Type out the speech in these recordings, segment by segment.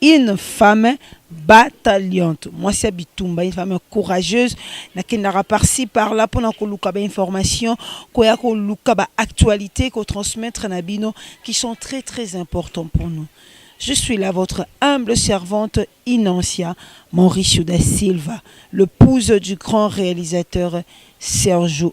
Une femme battaliante, mwasi ya bitumba, une femme courageuse. Nakendaka par ci par là pona koluka ba informations, koya koluka ba actualites, ko transmettre na bino qui sont très très importants pour nous. Je suis là votre humble servante Inancia Mauricio da Silva, l'épouse du grand réalisateur Sergio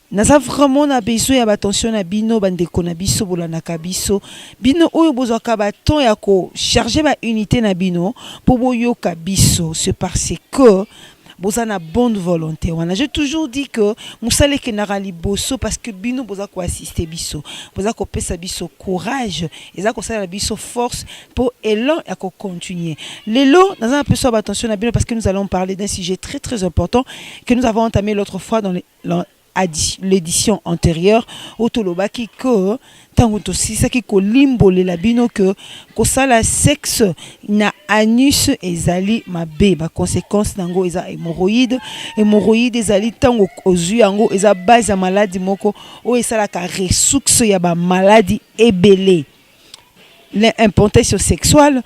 Naza vraiment na besoin ya b'attention na bino ba ndeko na biso bolandaka biso bino oyo bozwaka ba temps ya ko charger ba unite na bino po boyoka biso ce parce que boza na bonne volonte wana je toujours dit que mosala ekendaka liboso parce que bino boza ko assister biso boza kopesa biso courage eza kosalela biso force mpo elan ya kocontinue lelo naza na mpeso ya batension na bino parce que nous allons parler d'un sujet très très important que nous avons entamé l'autre fois dans le Dans l'edition antérieure, où tout le baki que ntango tosilisaki kolimbolela bino ke kosala sexe na anus ezali mabe baconséquence na yango eza hémorroïde hémorroïde ezali ntango ozwi yango eza base ya maladi moko oyo esalaka ressource ya bamaladi ebele l'importation sexuelle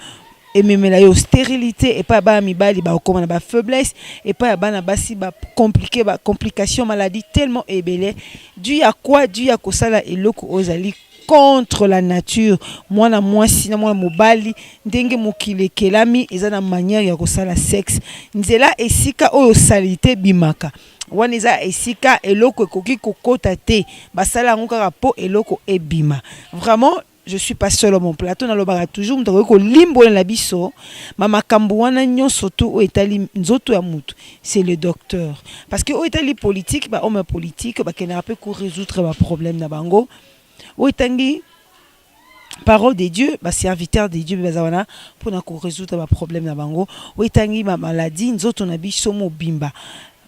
ememela yo stérilité epai ya bana mibali bakokoma na bafaiblesse epai ya bana basi bacomplike bacomplication maladie tellement ebele du ya kua du ya kosala eloko oyo ezali contre la nature mwana mwasi na mwana mobali ndenge mokili ekelami eza na manière ya kosala sexe nzela esika oyo salite ebimaka Wana eza esika eloko ekoki kokota te basala yango kaka po eloko ebima vraiment je suis pas seul mon plateau nalobaka toujours moto akoki kolimbolela biso ma makambo wana nyonso tu oyo etali nzoto ya moto c'est le docteur parce que oyo etali politique ba homme ya politique bakendaka mpe ko résoudre ba problème na bango oyo etangi parole de Dieu ba serviteur de Dieu baza wana pona ko résoudre ba problème na bango oyo etangi ba maladie nzoto na biso mobimba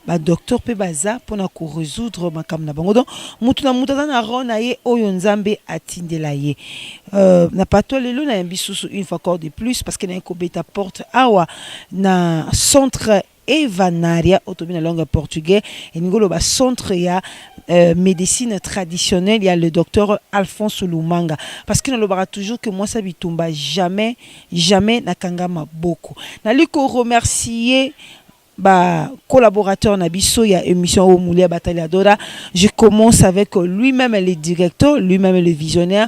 ba docteur pe baza pona ko résoudre makambo na bango donc mutu na mutu aza na rond na ye oyo nzambe atindela ye euh, na pato lelo na yambi susu une fois encore de plus parce que naye kobeta porte awa na centre Evanaria oyo tobi na langue ya portugais elingi oloba centre ya euh, médecine traditionnelle ya le docteur Alphonse Lumanga parce que nalobaka toujours que mwasi ya bitumba jamais jamais nakanga maboko nali ko remercier ba collaborateurs na biso ya émission au Moulia Bataliadora je commence avec lui-même le directeur lui-même le visionnaire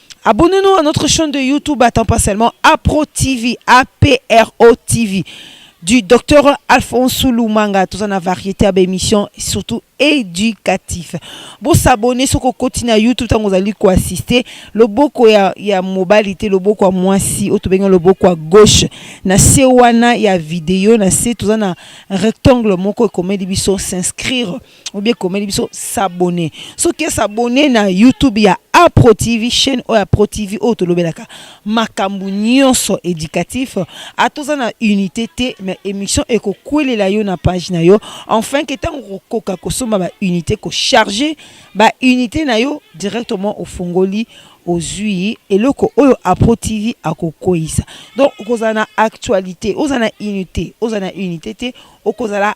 Abonnez-nous à notre chaîne de YouTube à temps partiellement Apro TV, A-P-R-O TV du docteur Alphonse Lumanga, tout en variété à émission, surtout éducatif. Bon s'abonner sur côté na YouTube tant vous allez quoi assister. Le boko ya ya mobilité, le boko à moi si au bien le boko à gauche. Na sewana ya vidéo, na se tout en rectangle moko comme biso s'inscrire. obi ekomeli biso s'abonner soki esabonne na youtube ya apro tv chaîne oyo apro tv oyo tolobelaka makambo nyonso éducatif atoza na unité te mais émission ekokwelela yo na page na yo enfin ke ntango kokoka kosomba baunité kocharge baunité na yo directement ofongoli ozwi eloko oyo apro tv akokweisa donc okozala na actualité ozala na unité ozala na unité te okozala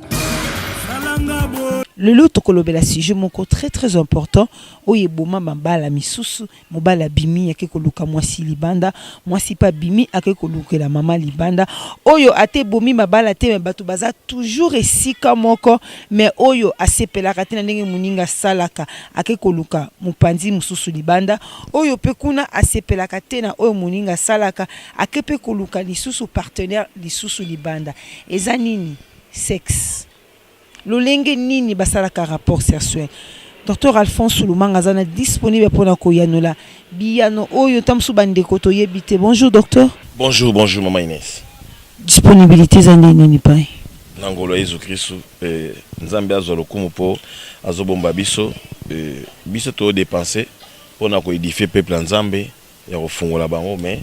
lelo tokolobela sujet moko très très important oyo eboma mabala misusu mobali abimi ake koluka mwasi libanda mwasi mpe abimi ake kolukela mama libanda oyo ata ebomi mabala te me bato baza toujours esika moko me oyo asepelaka te na ndenge moninga asalaka ake koluka mopanzi mosusu libanda oyo mpe kuna asepelaka te na oyo moninga asalaka ake mpe koluka lisusu partenaire lisusu libanda eza nini Sex lolenge nini basalaka rapports sersuel? Docteur Alphonse Sulumanga aza na disponible pona ko yanola biyano oyo tango mosusu ba ndeko to yebi te. Bonjour docteur. Bonjour bonjour maman Ines. Disponibilite eza nde nini epai? Na ngolu ya Yezu Kristu Nzambe azwa lokumu po azo bomba biso biso to depenser pona ko edifier peuple ya Nzambe. ya kofungola bango mais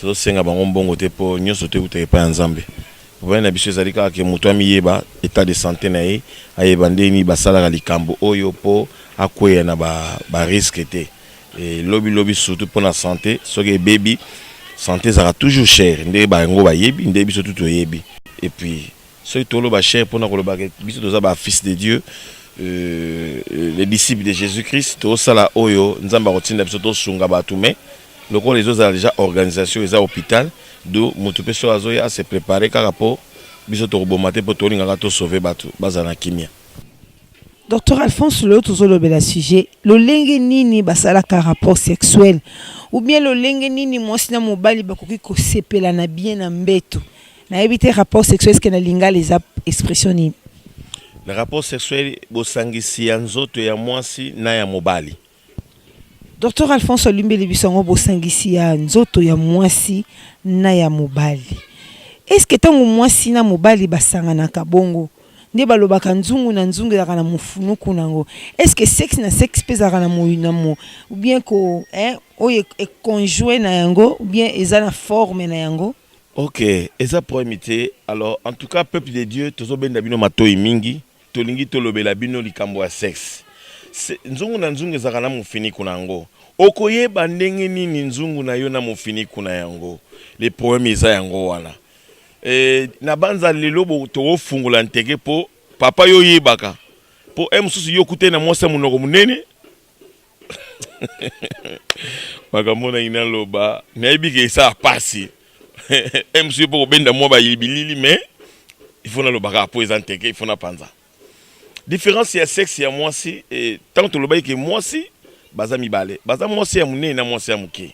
tozosenga bango mbongo te mpo nyonso te eutaka epai ya nzambe problème na biso ezali kaka ke moto amiyeba etat de santé na ye ayeba ndenge nini basalaka likambo oyo mpo akweya na bariske ba te e, lobi lobi surtout mpo na santé soki ebebi santé ezalaka toujours cher nde bango bayebi nde biso tu toyebi epuis soki toloba cher mpona koloba ke biso toza ba fils de dieu euh, euh les disciples de jésus christ tosala oyo nzambe akotinda biso tosunga bato mai lokola ezozala déjà organisation eza hôpital do moto mpe soki azoya ase prépare kaka mpo biso tokoboma te mpo tolingaka tosauve bato bazala na kimia Docteur Alphonse lelo tozolobela sujet lolenge nini basalaka rapport sexuel ou bien lolenge nini mwasi na mobali bakoki kosepela na bien na mbeto nayebi te rapport sexuel eske na lingala eza expression nini na rapport sexuel bosangisi ya nzoto ya mwasi na ya mobali docteur alphonse alimbeli biso yango bosangisi ya nzoto ya mwasi na ya mobali eske ntango mwasi na mobali basanganaka bongo nde balobaka nzungu na nzungu ezalaka na mofunuku na yango eske sexe na sexe mpe ezalaka na moyi na mo oubien ko eh, oyo econjoue na yango oubien eza na forme na yango Ok, eza problème te. Alors, en tout cas, peuple de Dieu, tozo benda bino matoyi mingi. Tolingi tolobela bino likambo ya sexe. Se, nzungu na nzungu ezaka na mufiniku na yango. Okoyeba ndenge nini nzungu na yo na mufiniku na yango. Le problème eza yango wana. E, nabanza lelo bo tokofungola ntege po papa yo oyebaka. Po e mususu yo okutani na mwasi ya munoko munene. makambo oyo nalingi naloba nayebi ke esala mpasi mc mpo kobenda mwa bayilibilili me ifo naloba kaka mpo eza nteke ifo napanza différence ya sexe ya mwasi e, ntango tolobaki ke mwasi baza mibale baza mwasi ya monene na mwasi ya moke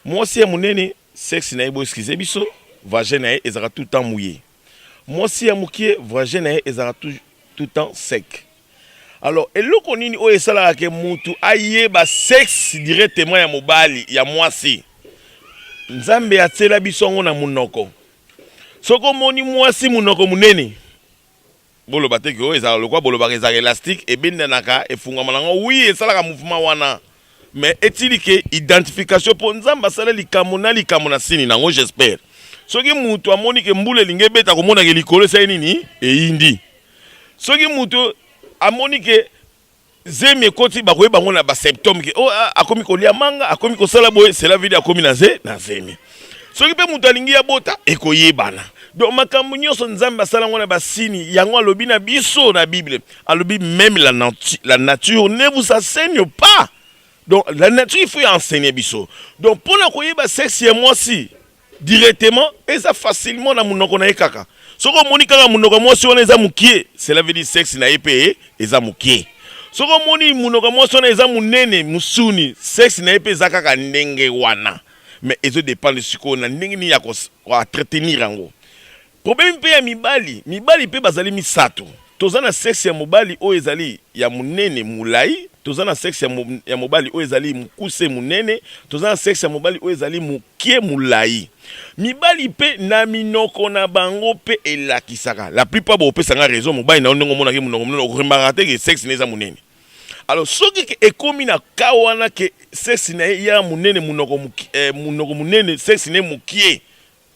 mwasi ya monene Sexe na ye bo excuse biso, vagin na ye ezalaka tout temps mouille. Mwasi ya mukie vagin na ye ezalaka tout, tout temps sec. Alors eloko nini oyo esalaka ke mutu ayeba sexe directement ya mobali ya mwasi? Nzambe atiela biso yango na munoko. Soki omoni mwasi munoko munene, Boloba te que oyo ezalaka lokola bolobaka ezalaka elastique, ebendanaka, efungwama na yango. Oui, esalaka mouvement wana. Mais etili que identification po Nzambe asala likambo na likambo na sini na yango. J'espère soki mutu amoni que mbula elingi ebeta akomona que likolo esali nini? Eyindi. Soki mutu amoni que. zemi ekoti bakoyeba yango na basymptome ke oh, ah, akomi kolia manga akomi kosala boye cela vidi akomi na ze na zemi soki mpe moto alingi abota ekoyebana donc makambo nyonso nzambe asala yango na basini yango alobi na biso na bible alobi meme la, natu, la nature ne vous enseigne pas donc la nature il faut ya enseigne biso donc mpo na koyeba sexe ya mwasi directement eza facilement na munoko na ye kaka soki omoni kaka munoko mwasi wana eza mukie cela veut dire sexe na ye pe eza mukie soki omoni munoko mwasi wana eza munene musuni sexe na ye pe eza kaka ndenge wana mais ezo dépendre sikoyo na ndenge nini ya ko entretenir yango Problemi mpe ya mibali. Mibali mpe bazali misato. Toza na sexe ya mobali oyo ezali ya monene, mulayi, toza na sexe ya mobali oyo ezali mokuse, monene, toza na sexe ya mobali oyo ezali mokie, mulayi. Mibali mpe na minoko na bango mpe elakisaka. La plupart bokopesa nga raison, mobali na yo ndenge omonaka ye munoko munene oko remarkaka te ke sexe na ye eza monene. Alors soki ke ekomi na cas wana ke sexe na ye ya monene munoko munene sexe na ye mokie,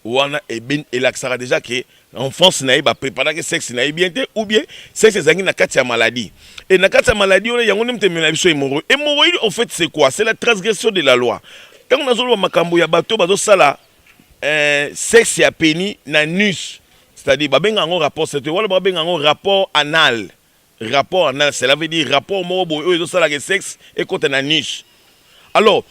Wana eben elakisaka dejà que na enfance na ye ba preparaki sexe na ye bien te ou bien sexe ezangi na kati ya maladie et na kati ya maladie wana yango nde moto emela biso hémorroïde hémorroïde au fait c'est quoi c'est la transgression de la loi ntango nazoloba makambo ya bato bazosala eh, sexe ya peni na nus c'est-à-dire babenga yango rapport sexuel wala babenga yango rapport anal Rapport anal cela veut dire rapport moko boye oyo ezo sala ke sex ekota na anus. Alors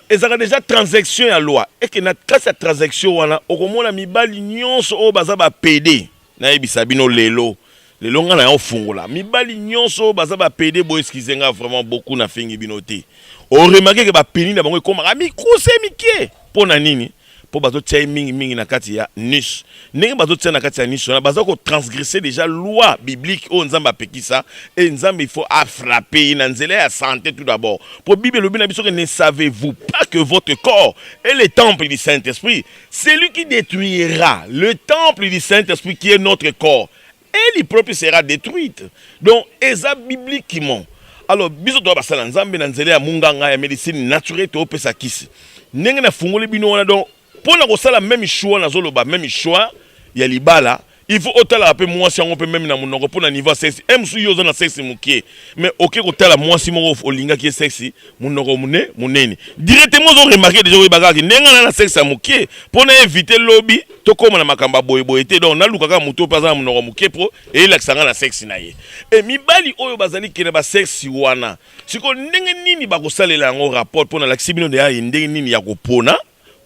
ezalaka dejà transection ya loi et que na kati ya transection wana okomona mibali nionso oyo baza ba pede nayebisa bino lelo lelo nga na ofungola mibali nionso oyo baza ba pede bo excuse nga vraiment beaucoup na fingi bino te o remarquer que ba peni na bango ekomaka mikuse mike mpo na nini po bazo tia ye mingi mingi na kati ya nus ndenge bazo tia na kati ya nus wana baza ko transgresser déjà loi biblique oyo nzambe apekisa et nzambe il faut afrappe ye na nzela ya sante tout d'abord po bible elobi na biso que ne savez-vous pas que votre corps est le temple du saint-esprit celui qui détruira le temple du saint-esprit qui est notre corps et li propre sera detruite donc eza bibliquement alors biso toa basala nzambe na nzela ya munganga ya medicine naturelle toopesa kisi ndenge na fungoli bino wana donc mpo na kosala meme choix nazoloba meme choix ya libala il faut otalaka mpe mwasi yango mpe meme na monoko mpo na niveau ya sexi e mosusu yo oza na sexi mokie mais oke kotala mwasi moko olingaki ye sexi munoko mune munene directement ozo remarquer dejà oyeba kaka ndenge nga na na sexe ya mukie po na eviter lobi tokoma na makambo ya boye boye te donc naluka kaka moto mpe aza na munoko mukie po eyelakisa nga na sexe na ye e mibali oyo bazali kena ba sexe wana siko ndenge nini bakosalela yango rapport po nalakisi bino deja ye ndenge nini ya kopona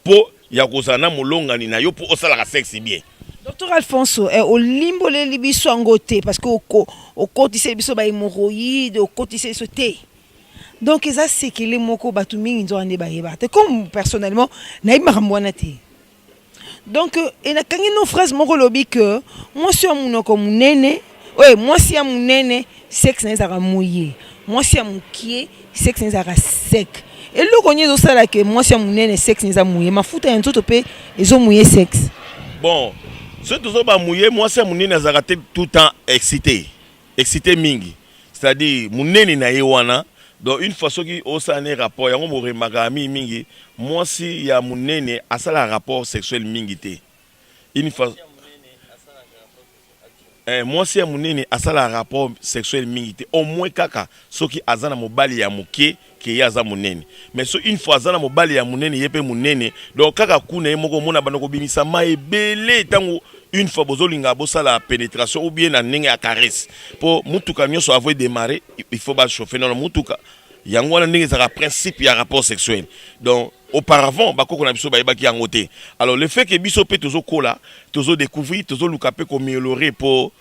po ya kozala na molongani na yo po osalaka sexe bien. Docteur Alfonso, eh, olimboleli biso yango te parce que okotiseli biso ba hémorroïdes, okotiseli biso te. Donc eza sekele moko bato mingi nzoka nde bayeba te comme personnellement nayebi makambo wana te. Donc enakangi no phrase moko lobi que mwasi ya monoko monene Oyo mwasi ya munene sexe na ezalaka moye, mwasi ya mukie sexe na ezalaka sec. Eloko nini ezosala ke mwasi ya munene sexe na eza moye? Mafuta ya nzoto pe ezo moye sexe. Bon, soki tozo ba moye mwasi ya munene azalaka te tout temps excite. Excite mingi. C'est-à-dire munene na ye wana donc une fois soki osala ne rapport yango boremakaka mingi mingi mwasi ya munene asalaka rapport sexuel mingi te. Une fois Eh mwasi ya munene asala rapport sexuel mingi te au moins kaka soki aza na mobali ya muke que ye aza munene mais so une fois aza na mobali ya munene ye pe munene donc kaka kuna ye moko omona banda kobimisa mai ebele tango une fois bozolinga bosala penetration ou bien na ndenge ya caresse po mutuka nyonso avo edemare il faut ba chauffe nono mutuka yango wana ndenge ezalaka principe ya rapport sexuel donc auparavant bakoko na biso bayebaki yango te alors le fait que biso mpe tozokola tozodécouvrir tozoluka mpe komiolore mpo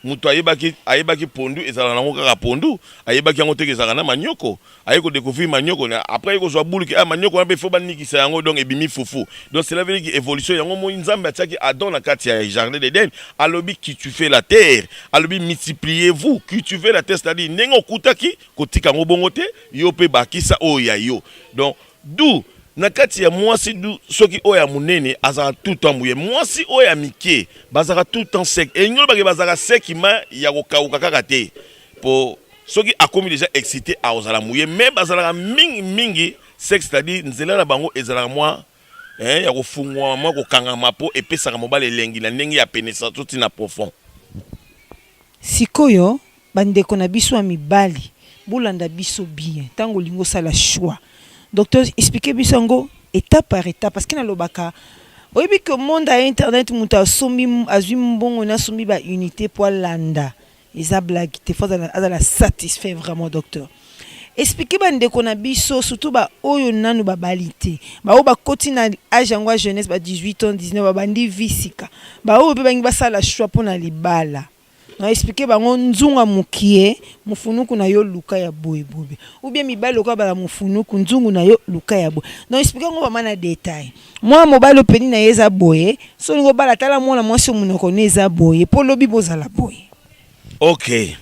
moto ayebaki ayebaki pondu ezalaka nango kaka pondu ayebaki yango teke ezalaka na manioko aye kodécouvrir manioko après aye kozwa buluki ah, manioko wana mpe fo banikisa yango donc ebimi fufu donc cela veut dire que évolution yango moi nzambe atiaki adon na kati ya jardin d'eden alobi qui tu fais la terre alobi multipliez-vous cultivez la terre c'est-à-dire ndenge okutaki kotika yango bongo te yo mpe bakisa oyo ya yo donc du na kati ya mwasi du soki oyo ya monene azalaka tout temps boye mwasi oyo ya mike bazalaka tout temps sec elingi olobake bazalaka seki ma ya kokauka kaka te mpo soki akomi deja excité akozala moye mais bazalaka mingi mingi sec c'est-à-dire nzela na bango ezalaka mwa eh, ya kofungwama mwa kokangama mpo epesaka mobali elengi na ndenge ya penesa to ntina profond sikoyo bandeko na biso ya mibali bolanda biso bien ntango olingi osala choix docteur explike biso yango étape par étape parce que nalobaka oyebi que monde ya internet moto asombi azwi mbongo na asombi ba unité mpo alanda Eza blague te faut azala azala satisfait vraiment docteur. Expliquer ba ndeko na biso surtout ba oyo nanu ba bali te. Ba oyo ba koti na âge yango ya jeunesse ba 18 ans 19 ba bandi vie sika. Ba oyo pe bangi basala choix pona libala. Na expliquer bango nzunga mukie mufunuku na yo luka ya boye boye ou bien mibali lokola bala mufunuku nzungu na yo luka ya boye. Donc expliquer yango vraiment na detail. Mwana mobali oyo peni na ye eza boye, soki olingi obala tala mwana mwasi oyo monoko ne eza boye mpo lobi bozala boye. Ok.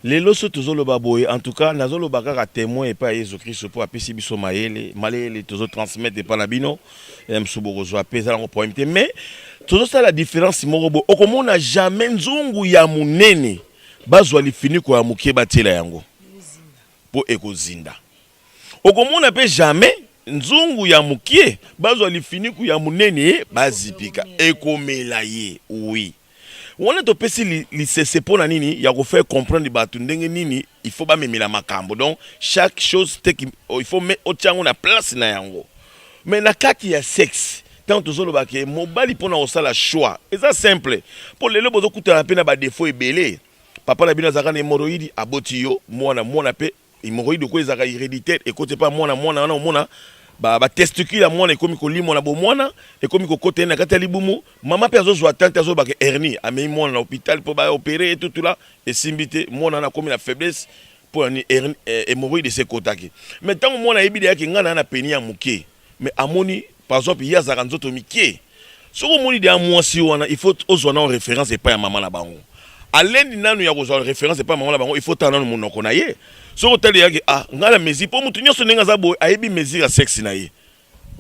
Lelo so tozoloba boye en tout cas nazoloba kaka temoin epai ya Yesu Kristo mpo apesi biso mayele mayele tozo transmettre epai na bino eh, mosusu bokozwa mpe eza nango problème te mais tozosala différence moko boye okomona jamais nzungu ya monene bazwa lifiniko ya moke batiela yango mpo ekozinda Okomona pe jamais nzungu ya mukie bazwa lifiniku ya munene bazipika ekomela ye oui wana topesi lisese pona nini ya ko faire comprendre batu ndenge nini il faut bamemela makambo donc chaque chose te il faut me otia yango na place na yango mais na kati ya sexe ntango tozoloba ke mobali mpo na kosala choix eza simple mpo lelo bozokutana mpe na badefo ebele papa na bino azalaka na hemoroidi aboti yo mwana mwana mpe Hemorroïde ko ezaka hereditaire ekote pa mwana mwana wana omona ba ba testicule ya mwana ekomi kolimwa na bomwana ekomi kokota ye na kati ya libumu mama mpe azozwa tante azoloba ke hernie amei mwana na hôpital mpo ba opere ye tutula esimbi te mwana wana akomi na faiblesse mpo ya nini hémorroïde esekotaki mais ntango mwana ayebi deya ke ngai naa na peni ya moke mais amoni par exemple ye azalaka nzoto mikie soki omoni deya mwasi wana il faut ozwa nao référence epai ya mama na bango alendi nanu ya kozwa référence epai ya mama na bango il faut otala nanu monoko na ye soki otali yaki ah ngai na mesure mpo motu nyonso ndenge aza boye ayebi mesure ya sexe na ye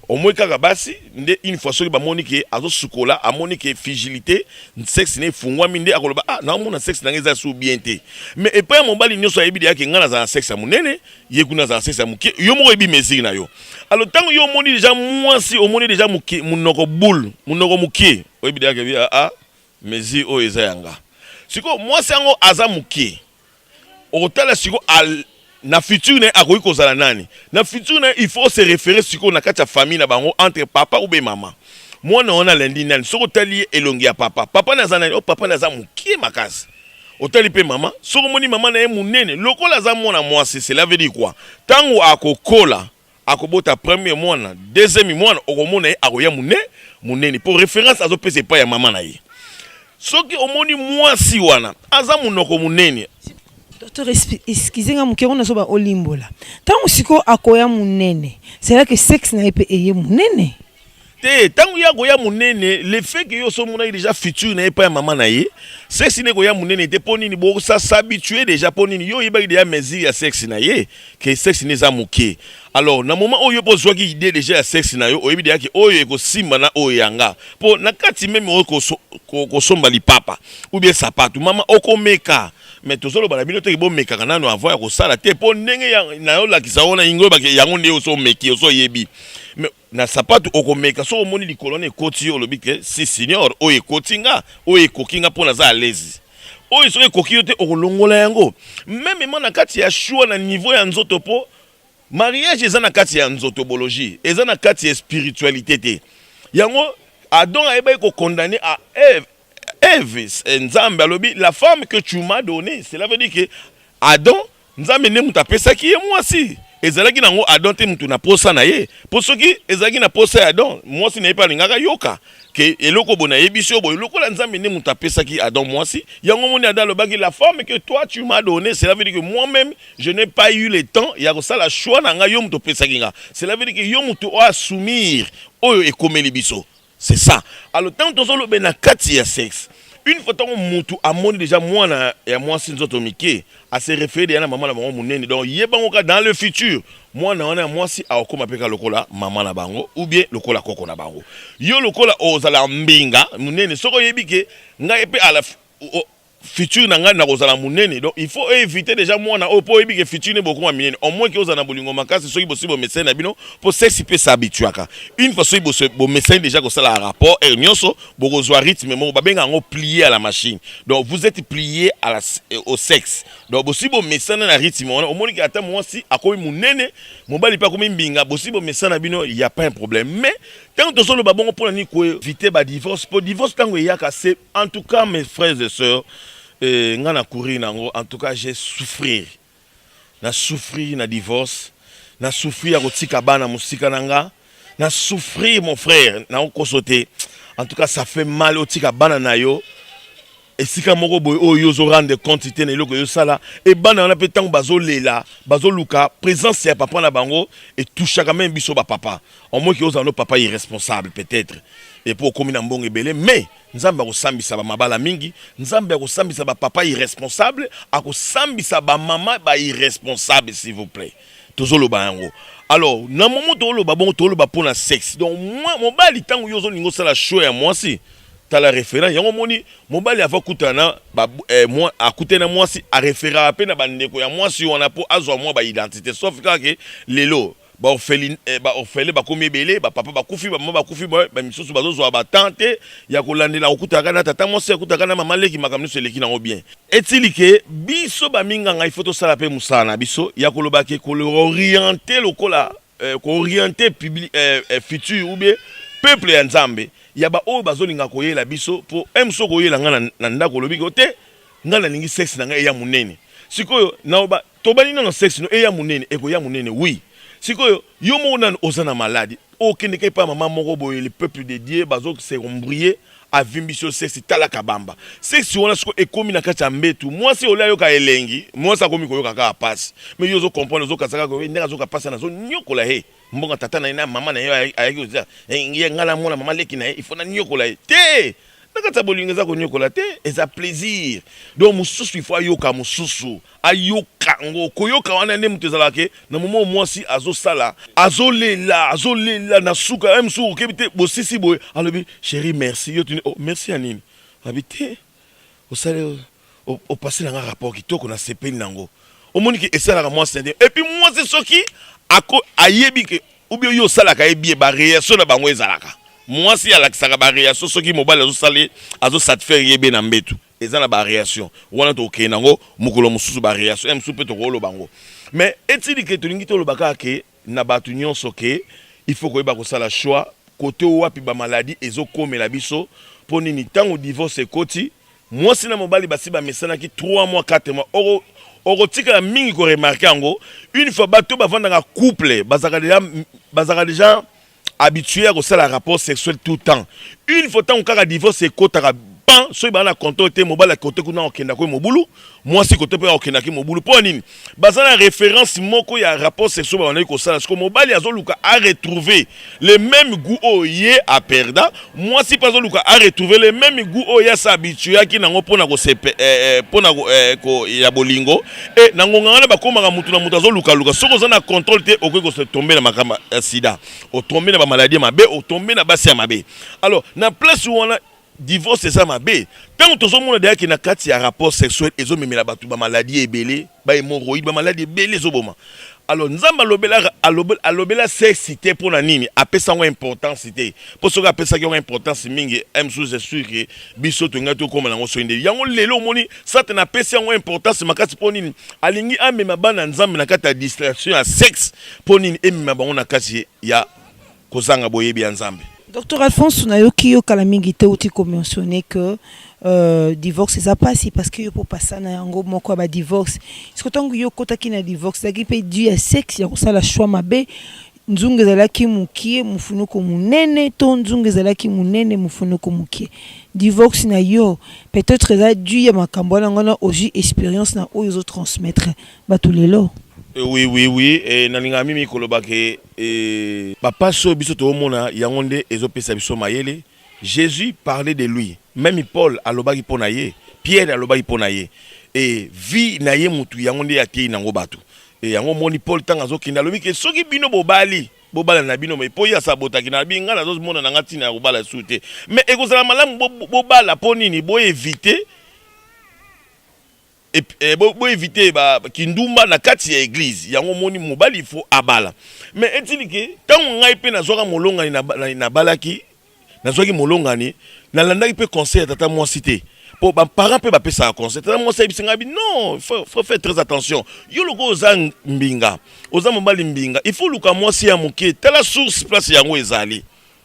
omoi kaka basi nde une fois soki bamoni ke azosukola amoni ke frigilité sexe na efungwami nde akoloba ah naomona sexe na ngai eza su bien te mais epai ya mobali nyonso ayebi deya ke ngai nazala na sexe ya monene ye kuna azala sese ya moke yo moko oyebi mesure na yo alo ntango yo omoni deja mwasi omoni deja moke monoko boule monoko moke oyebi deja kebi aa ah, ah, mesure oyo eza yanga sikoyo mwasi yango aza moke okotala sikoyo na futur na ye akoki kozala nani na futur na ye il faut se référer sikoyo na kati ya famille na bango entre papa ou be mama mwana wana alandi nani soki otali ye elongi ya papa papa naza nani o oh, papa naza moke makasi Otali pe mama, soki omoni mama na ye munene lokola aza mwana mwasi, cela veut dire quoi? Tango akokola, akobota premier mwana, deuxième mwana, okomona ye akoya mune, munene. Po reference azo pesa epai ya mama na ye. Soki omoni mwasi wana, aza munoko munene. Docteur, excusez nga muke, yango nazoba olimbola. Tango sikoyo akoya munene, cela que sexe na ye pe eye munene? te ntango ye akoya monene le fait que yo somonaki déjà futur na ye epai ya mama na ye sexe na ekoya monene te mpo nini bosasabitue déjà mpo nini yo oyebaki déjà mesure ya sexe na ye ke sexe na eza moke alors na moment oyo mpo ozwaki idée déjà ya sexe na yo oyebi deja ke oyo ekosimba na oyo yanga mpo na kati meme oyo kosomba lipapa ou bien sapatu mama okomeka me tozoloba na bino teke bomekaka nano avant ya kosala te mpo ndenge na yo olakisa wana ingo yango nde oso omeki oso oyebi na sapatu okomeka soki omoni likolo na ekoti yo olobi ke si senior oyo ekoti nga oyo ekoki nga mpo naza alezi oyo soki ekoki yo te okolongola yango meme ma na kati ya shua na niveau ya nzoto mpo mariage eza na kati ya nzotobologie eza na kati ya spiritualité te yango adon ayebaki kokondane a eve eve eh, nzambe alobi la femme que tu m'as donné cela veut dire que adon Nzambe nde moto apesaki ye mwasi. Ezalaki na yango Adam te moto na posa na ye, mpo soki ezalaki na posa ya Adam, mwasi na ye mpe alingaka yoka ke eloko bo nayebisi yo boye. Lokola Nzambe nde moto apesaki Adam mwasi, yango moni Adam alobaki la femme que toi tu m'as donné, cela veut dire que moi-même je n'ai pas eu le temps ya kosala choix na nga, yo moto opesaki nga. Cela veut dire que yo moto oasumir oyo ekomeli biso. C'est ça. Alors, tant que nous ben na kati ya sexe, une fois tango mutu amoni déjà mwana ya mwasi nzoto mike, a se référer ya na maman na bango munene. Donc, ye bango ka dans le futur, mwana wana ya mwasi akoma peka lokola maman na bango ou bien lokola koko na bango. Yo lokola ozala mbinga munene, soko yebi ke ngai pe à la futur na ngai nakozala munene donc il faut éviter déjà mwana oyo po oyebi ke futur ne bokoma minene au moins ozala na bolingo makasi soki bosi bomesani na bino po sexe pe sa habituaka une fois soki bosi bomesani déjà kosala rapport heure nyonso bokozwa rythme moko babenga yango plier à la machine donc vous êtes plier à la, au sexe donc bosi bomesana na rythme wana omoni ke ata mwasi akomi munene mobali pe akomi mbinga bosi bomesana bino il y a pas un problème mais ntango tozoloba bongo mpo na nini koevite badivorce mpo divorce ntango eyaka se En tout cas mes frères et sœurs eh, nga na courir nango en tout cas j'ai souffrir na souffrir na divorce na souffrir ya kotika bana mosika na nga na souffrir mon frère naokoso te en tout cas ça fait mal otika bana na yo esika moko boye oyo yo ozorendre compte te na eloko eyosala e bana wana mpe ntango bazolela bazoluka présence ya papa na bango etushaka meme biso bapapa Omoki ozala no papa irresponsable peut etre et puis okomi na mbongo ebele mais nzambe akosambisa ba mabala mingi nzambe akosambisa ba papa irresponsable akosambisa ba mama ba irresponsable s'il vous plaît tozoloba yango alors na momo toloba bongo toloba mpo na sexe donc mwa mobali ntango yo ozolinga osala show ya mwasi tala référence yango omoni mobali ava kutana na ba, eh, mwa, akutani na mwasi areferaka mpe na bandeko ya mwasi wana mpo azwa mwa baidentité sauf kaka ke lelo Ba orphelin eh, ba orphelin bakomi ebele, ba papa bakufi, ba mama bakufi, ba ba misusu bazozwa ba temps te ya kolandela kokutaka na tata mwasi, akutaka na mama leki, makambo nyonso eleki nango bien. Etili ke biso ba minganga il faut tosala pe mosala na biso ya koloba ke ko orienter lokola eh, ko orienter publi, eh, eh, futur ou bien peuple ya Nzambe ya ba oyo bazolinga koyela biso po eh, mosusu okoyela ngai na, na ndako olobi ke te ngai nalingi sexe na ngai eya monene sikoyo naoba Tobandi nano sexe no eya munene ekoya munene oui sikoyo yo moko nanu oza na malade okende ka epa maman moko boye le peuple de Dieu bazo se embrouiller avimbisi yo sexe tala kabamba sexe wana sikoyo ekomi na kati ya mbetu mwasi olie ayoka elengi mwasi akomi koyoka kaka pasi mais yo ozo comprendre ozo kasa kaka ndenge azoka pasi wana azo niokola ye Mbongo tata na ye na mama na ye ayaki kozela ye ngai namona mama leki na ye ifo naniokola ye te na kati ya bolingo eza koniokola te eza plaisir donc mosusu ifo ayoka mosusu ayoka yango koyoka wana nde moto ezalaka ke na momo mwasi azosala azolela azolela na suka ye mosusu okebi te bosisi boye alobi sheri merci yo tuni oh, merci ya nini abi te osali opasela nga rapport kitoko na sepeli nango omoni ke esalaka mwasi na et puis mwasi soki ako ayebi ke oubien yo osalaka ye bien ba reaction na bango ezalaka mwasi alakisaka ba reaction soki mobali azosali azosatisfaire ye be na mbetu eza na ba reaction wana tokokende nango mokolo mosusu ba reaction ya mosusu mpe tokoloba yango mais etili ke tolingi toloba kaka ke na batu nionso que il faut koyeba kosala choix kote wapi ba maladie ezo komela biso po nini tango divorce ekoti muasi na mobali basi ba mesanaki trois mois quatre mois oko okotikala mingi ko remarquer yango une fois batu bavandaka couple bazaka deja bazaka deja habitué ya kosala rapport sexuel tout temps une fois ntango kaka divorce ekotaka pan soki baa na controle te mobali ya kote kuna akokenda koye mobulu mwasi kote mpe akokendaki mobulu mpo ya nini baza na référence moko ya rapport sexuel babandaki kosala siko mobali azoluka aretrouve le même goût oyo ye aperda mwasi mpe azoluka a retrouver le meme gout oyo ye asa habituaki nango mpo na kosepe eh, eh, mpo na eh, ya bolingo e na ngonga wana bakomaka motu na motu azolukaluka soki oza na contrôle te okoki kotombe na makambo ya sida otombe na bamaladi ya mabe otombe na basi ya mabe alors na place wana divorce eza mabe ntango tozomona deyaki na kati ya rapport sexuel ezomemela bato bamaladi ebele ba hemorroïde ba maladi ebele ezoboma alors nzambe alobelaka alobela sesi te mpo na nini apesa yango importance te mpo soki apesaki yango importance mingi msusu esur ke biso tolingai tokoma nango soki nde yango lelo omoni satana apesi yango importance makasi mpo nini alingi amema bana nzambe na kati ya distraction ya sexe mpo nini emema bango na kati ya kozanga boyebi ya Nzambe. Docteur Alphonse, nayoki yo kala mingi te uti ko mentionner que euh, divorce eza pasi parce que yo po pasa na yango moko ya ba divorce. Siko tango yo kotaki na divorce ezalaki pe dû ya sexe ya kosala choix mabe nzungu ezalaki mokie mofunuku monene to nzungu ezalaki monene mofunuku mokie divorce na yo peut-être eza dû ya makambo wana ngana ozwi expérience na oyo ozotransmettre bato lelo eh oui oui oui e, nalingaka mimi koloba ke Et ba pasi oyo biso toomona yango nde ezo pesa biso mayele. Jesus parlait de lui, meme Paul alobaki mpo na ye, Pierre alobaki mpo na ye. Et vie na ye mutu yango nde ateyi nango batu. Et yango omoni Paul ntango azokende alobi ke soki bino bobali bobala na bino mais mpo ye asi abotaki na abi ngai nazomona na ngai ntina ya kobala lisusu te mais ekozala malamu bobala mpo nini bo eviter Et, eh, bo, bo éviter ba kindumba na kati ya église yango moni mobali faut abala mais etili ke tango ngai pe nazwaka molongani na, na, na balaki nazwaki molongani nalandaki pe conseil ya tata mwasi te po ba parents pe bapesaka conseil tata mwasi ayebisi ngai bi non faut, faut faire très attention yo loko oza mbinga oza mobali mbinga il faut luka mwasi ya moke tala source place yango ezali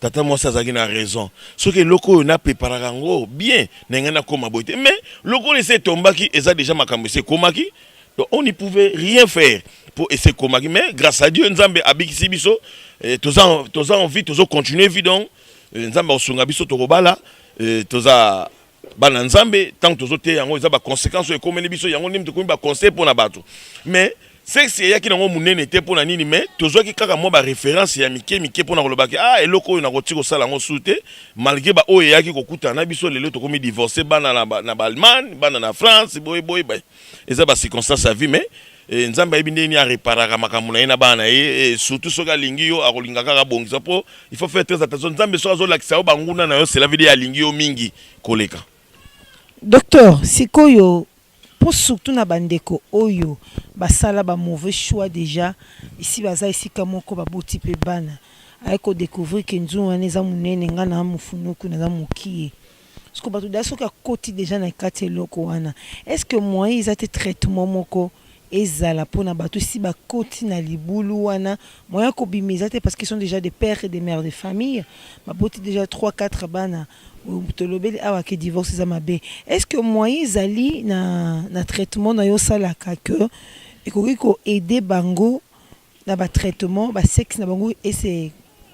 Tata mwasi azalaki na raison soki eloko oyo na preparaka yango bien na ngai nakoma boye te mais lokola esi etombaki eza deja makambo esi ekomaki donc on ne pouvait rien faire mpo esi ekomaki mais grâce à dieu nzambe abikisi biso eh, toza toza en vie tozo continuer vie donc eh, nzambe akosunga biso tokobala eh, toza bana nzambe ntango tozoteya yango eza baconséquence oyo ekomeli biso yango ndimi tokomi baconseil mpo na bato mais sexe eyaki nango monene te mpo na nini mais tozwaki kaka mwa baréférence ya mike mike mpo na kolobaki ah eloko oyo nakoki kosala yango su te malgré baoyo eyaki kokutana na biso lelo tokomi divorce bana na baallemagne bana na france boye boye eza bacirconstance ya vie mais Eh, nzambe ayebi ndenge nini areparaka makambo na ye na bana na ye eh, surtout soki alingi yo akolinga kaka abongisa mpo il faut faire très attention nzambe soki azolakisa yo banguna na yo cela veut dire alingi yo mingi koleka docteur sikoyo mpo surtout na bandeko oyo basala ba mauvais choix déjà esi baza esika moko baboti mpe bana aye kodécouvrir ke nzungu wana eza monene ngai na mofunuku naza mokie Siko bato da soki akoti deja na kati eloko wana est ce que moyen eza te traitement moko ezala pona bato esi bakoti na libulu wana moyen ya kobima eza te parce qu'ils sont deja des pères et des mères de famille baboti deja 3 4 bana tolobeli awa ke divorce eza mabe est ce que moyen ezali na, na traitement na yo osalaka que ekoki koaide bango na ba traitement ba sexe na bango et se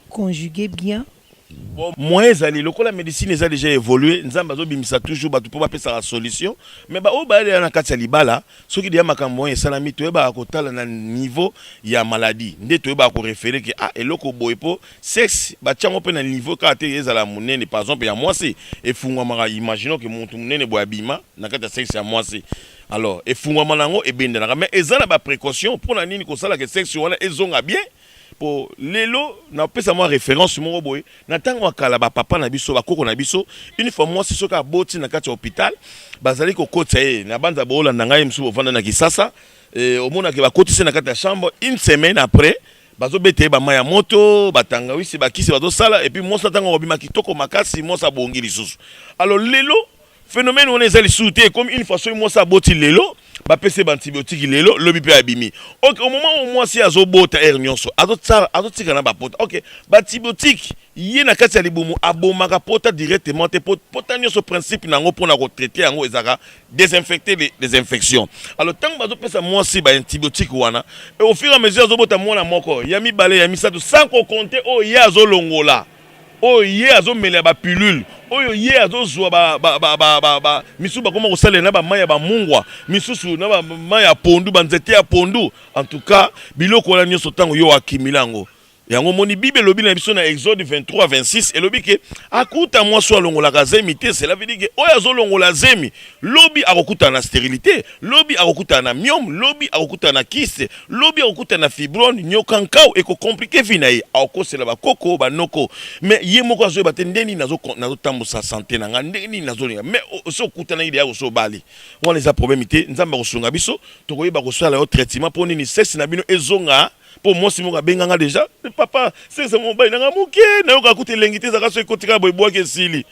conjuguer bien. Bon, moyen ezali lokola medicine eza deja evolue nzambe azobimisa toujours bato mpo bapesaka solution mais baoyo bayalela na kati ya libala soki deya makambo oyo esalami toyebaka kotala na niveau ya maladie nde toyebaka korefere ke ah, eloko boye mpo sexe batyango mpe na niveau kaka te ezala monene par exemple ya mwasi efungwamaka imaginons ke motu monene boye abima na kati ya sexe ya mwasi alors efungwama na yango ebendanaka mais eza na baprécaution mpo na nini kosalaka sexe wana ezonga bien mpo lelo napesa mwa référence moko boye na ntango ya kala bapapa na biso bakoko na biso une fois mwasi soki aboti na kati ya hôpital bazali kokotisa ye na banza boolanda ngai mosusu bovanda na kisasa e, omonaki bakotisi na kati ya chambre une semaine après bazobeta ye bama ya moto batangawisi bakisi bazosala epuis mwasi na ntango akobima kitoko makasi mwasi abongi lisusu alors lelo Phenomène wana eza lisusu te ekomi une façon mwasi aboti lelo bapesi ye baantibiotique lelo lobi mpe abimi ok au moment oyo mwasi ye azobota aire nyonso azotika na bapota ok baantibiotique ye na kati ya libumu abomaka pota directement te pota nyonso principe na yango mpo na kotraite yango ezalaka desinfecte les infections alors ntango bazopesa mwasi baantibiotique wana au fur et à mesure azobota mwana moko ya mibale ya misato sans kokonte oyo ye azolongola oyo ye azomela ya bapilule oyo ye azozwa misusu bakoma kosalela na bamai ya bamungwa misusu na bamai ya pondu banzete ya pondu en tout cas biloko wana nyonso ntango yo akimila yango yango moni bible elobi na biso na exode 23 26 elobi ke akuta mwasi oyo alongolaka zemi te cela veut dire ke oyo azolongola zemi lobi akokutana na sterilite lobi akokutana na miome lobi akokutana na kiste lobi akokutana na fibrone nyoka nkau ekokomplike vi na ye akokosela bakoko banoko me ye moko azoyeba te nde nini nazotambwisa sante na ngai ndenge nini nazolinga me osi okutanaki deya kosi obali wana eza probleme te nzambe akosunga biso tokoyeba kosala yo traitement mpo nini sese na bino ezonga po mwasi moko abenga nga deja eh, papa sese mobali nanga moke nayoka kuta elengi te ezaka so ekotika boye bwaki esili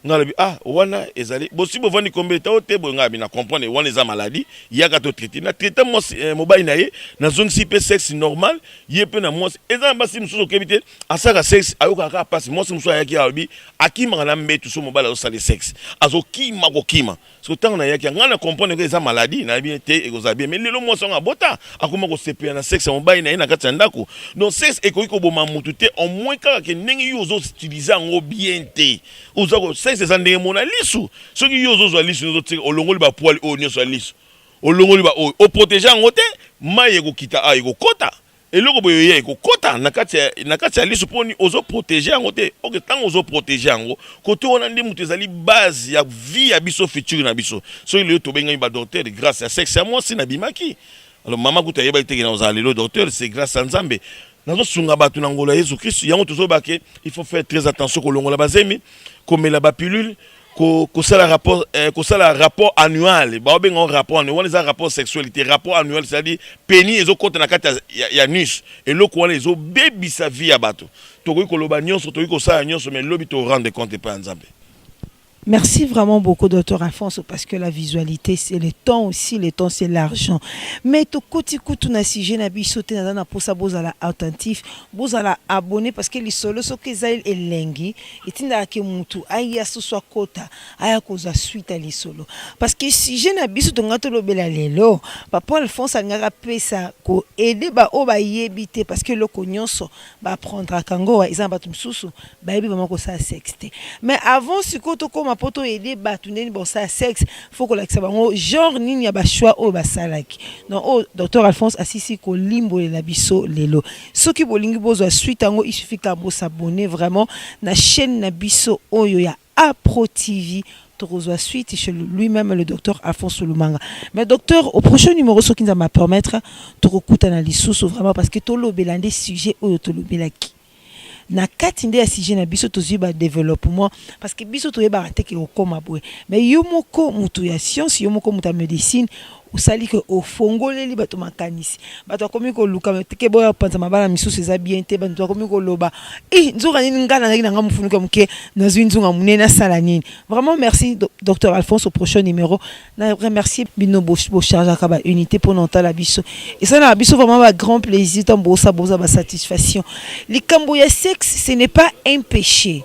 nga lobi ah wana ezali bosi bovandi kombe etao te boye nga bina comprendre wana eza maladie yaka to traite na traite mwasi eh, mobali na ye nazongisi mpe sexe normal ye mpe na mwasi eza na basi mosusu okebi te asaka sexe ayokaka kaka mpasi mwasi mosusu ayaki alobi akimaka na mbetu so mobali azosali sexe azokima kokima siko ntango nayaki ngai na comprendre ke eza maladie nayebi ye te ekozala bien mais lelo mwasi yango abota akoma kosepela na sexe ya mobali na ye na kati ya ndako donc sexe ekoki koboma motu te au moins kaka ke ndenge yo ozo utilize yango bien te oza ko sexe eza ndenge mona lisu soki yo ozozwa lisu ozotika olongoli bapoile oyo nyonso ya lisu olongoli baoyo oprotege yango te mai ekokita awa ah, ekokota Eloko boye oye ekokota na kati ya na kati ya lisu poni ozo protéger yango te. Ok, tango ozo protéger yango, kote wana nde moto ezali base ya vie ya biso future na biso. Soki lelo tobengami ba docteur grace ya sexe ya mwasi na bimaki. Alors mama kutu ayebaki te ke nakozala lelo docteur, c'est grace ya Nzambe. Nazo sunga batu na ngolu ya Yezu Kristu. Yango tozo loba ke il faut faire très attention kolongola ba zemi, komela ba pilule, ko kosala rapport eh, kosala rapport annuel baobenga ngo rapport annuel wana eza rapport sexuel te rapport annuel c'est-à-dire peni ezokota na kati ya, ya nus eloko wana ezobebisa vie ya bato tokoki koloba nyonso tokoki kosala nyonso mais lobi to rendre compte epai ya nzambe Merci vraiment beaucoup, docteur Alfonso, parce que la visualité, c'est le temps aussi, le temps, c'est l'argent. Mais tout côté coup, tout na sujet, na bi sauté, na na pour ça, bozala attentif, bozala abonné, parce que les solos, ce qu'ils aillent, et lengi, etindaka ke mutu aya susu akota aya kozwa suite ya lisolo parce que sujet na biso tonga tolobela lelo papa alphonse alingaka apesa koede baoyo bayebi te parce que eloko nyonso baaprendraka yango eza na bato mosusu bayebi bama kosala sexe te mais avant sikoyo tokóma mpo toede bato ndeni bakosala sexe fo kolakisa bango genre nini ya bachoix oyo basalaki donc oyo docteur alphonse asisi kolimbolela biso lelo Soki bolingi bozwa suite yango, il suffit kaka bo s'abonner vraiment na chaîne na biso oyo ya Apro TV. Tokozwa suite chez lui-même le docteur Alphonse Lumanga. Mais docteur, au prochain numéro soki nzambe a permettre, tokokutana lisusu vraiment parce que tolobela nde sujet oyo tolobelaki. Na kati nde ya sujet na biso tozwi ba développement parce que biso toyebaka te ke okoma boye. Mais yo moko mutu ya science, yo moko mutu ya medicine, osali ke ofongoleli bato makanisi bato akomi koluka teke boya kopanza mabala misusu eza bien te bato akomi koloba e nzoka nini ngai nazalaki na ngai mofunuki ya moke nazwi nzunga monene nasala nini vraiment merci docteur alphonse au prochain numéro na remercie bino bochargeaka baunité mpo na otala biso esalaka biso vraiment ba grand plaisir ntango bosa boza basatisfaction likambo ya sexe ce n'est pas un péché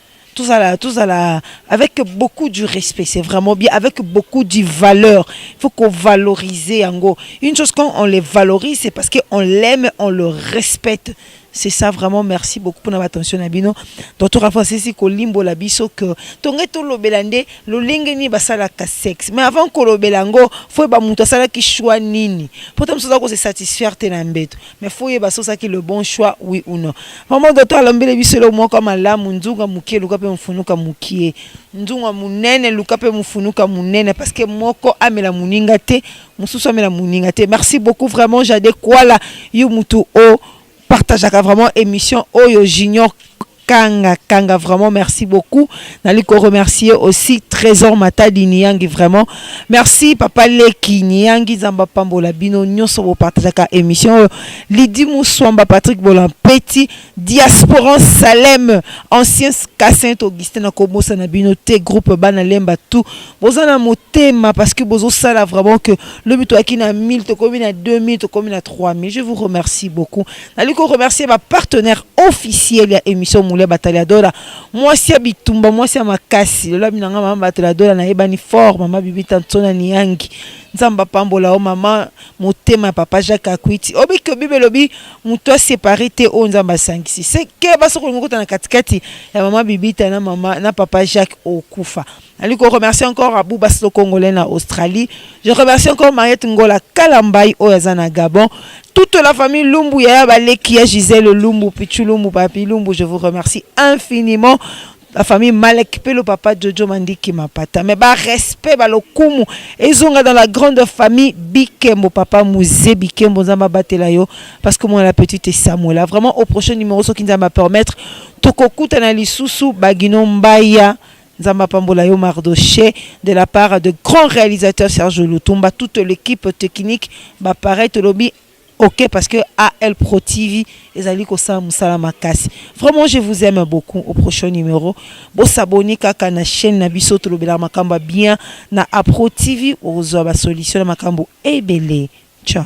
tozala tozala avec beaucoup du respect c'est vraiment bien avec beaucoup du valeur il faut qu'on valorise yango une chose quand on les valorise c'est parce que on l'aime on le respecte c'est ça vraiment merci beaucoup pour notre attention na bino donc tokafa sisi la biso que tonge tolobela nde lolenge nini basalaka sexe mais avant kolobela yango fo yeba moto asalaki choix nini mpo ta mosusu aza kose satisfaire te na mbeto mais faut oyeba soki osalaki le bon choix oui ou non mama doto alombeli biso eloko moko ya malamu nzunga mokie luka mpe mofunuka mokie nzunga monene luka mpe mofunuka monene parce que moko amela moninga te mosusu amela moninga te merci beaucoup vraiment jade kwala yo motu o partageaka vraiment émission oyo junior kanga kanga vraiment merci beaucoup nali ko remercier aussi trésor matadi niyangi vraiment merci papa leki niyangi nzambe apambola bino nyonso bopartageaka émission oyo lidi muswamba patrick bolampeti diasporan salem ancien ka saint augustin nakobosana bino te groupe bana lemba tout boza na motema parce que bozosala vraiment que lobi toyaki na 1000 tokomi na 2000 tokomi na 3000 je vous remercie beaucoup nali ko remercier ba partenaire officiel ya émission Moulia Bataliadora mwasi ya bitumba mwasi ya makasi lola bina nga mama Bataliadora na yebani fort mama Bibi Tantona Niangi nzamba pambola o mama motema papa Jacques Akwiti obiki obibe lobi moto a séparé te o nzamba asangisi se ke basokolinga kota na katikati ya mama Bibita na mama na papa Jacques okufa Nali ko remercier encore à Bouba Slo Congolais na Australie. Je remercie encore Mariette Ngola Kalambay oyo aza na Gabon. Toute la famille Lumbu ya baleki ya Gisèle Lumbu, Pichu Lumbu, Papi Lumbu, je vous remercie infiniment. La famille Malek Pelo Papa Jojo Mandiki Mapata. Mais ba respect ba lokumu ezonga dans la grande famille Bikembo Papa Mouze Bikembo Nzamba batela yo parce que moi la petite est Samuela. Vraiment au prochain numéro soki Nzamba permettre tokokutana lisusu Bagino Mbaya Nzambe apambola yo Mardochee de la part de grand realisateur Serge Lutumba toute l'equipe technique ba pareil tolobi ok parce que AL Pro TV ezali kosala musala makasi vraiment je vous aime beaucoup au prochain numero bo s'abonner kaka na chaine na biso tolobelaka makambo ya bien na Apro TV okozwa ba solution na makambo ebele ciao.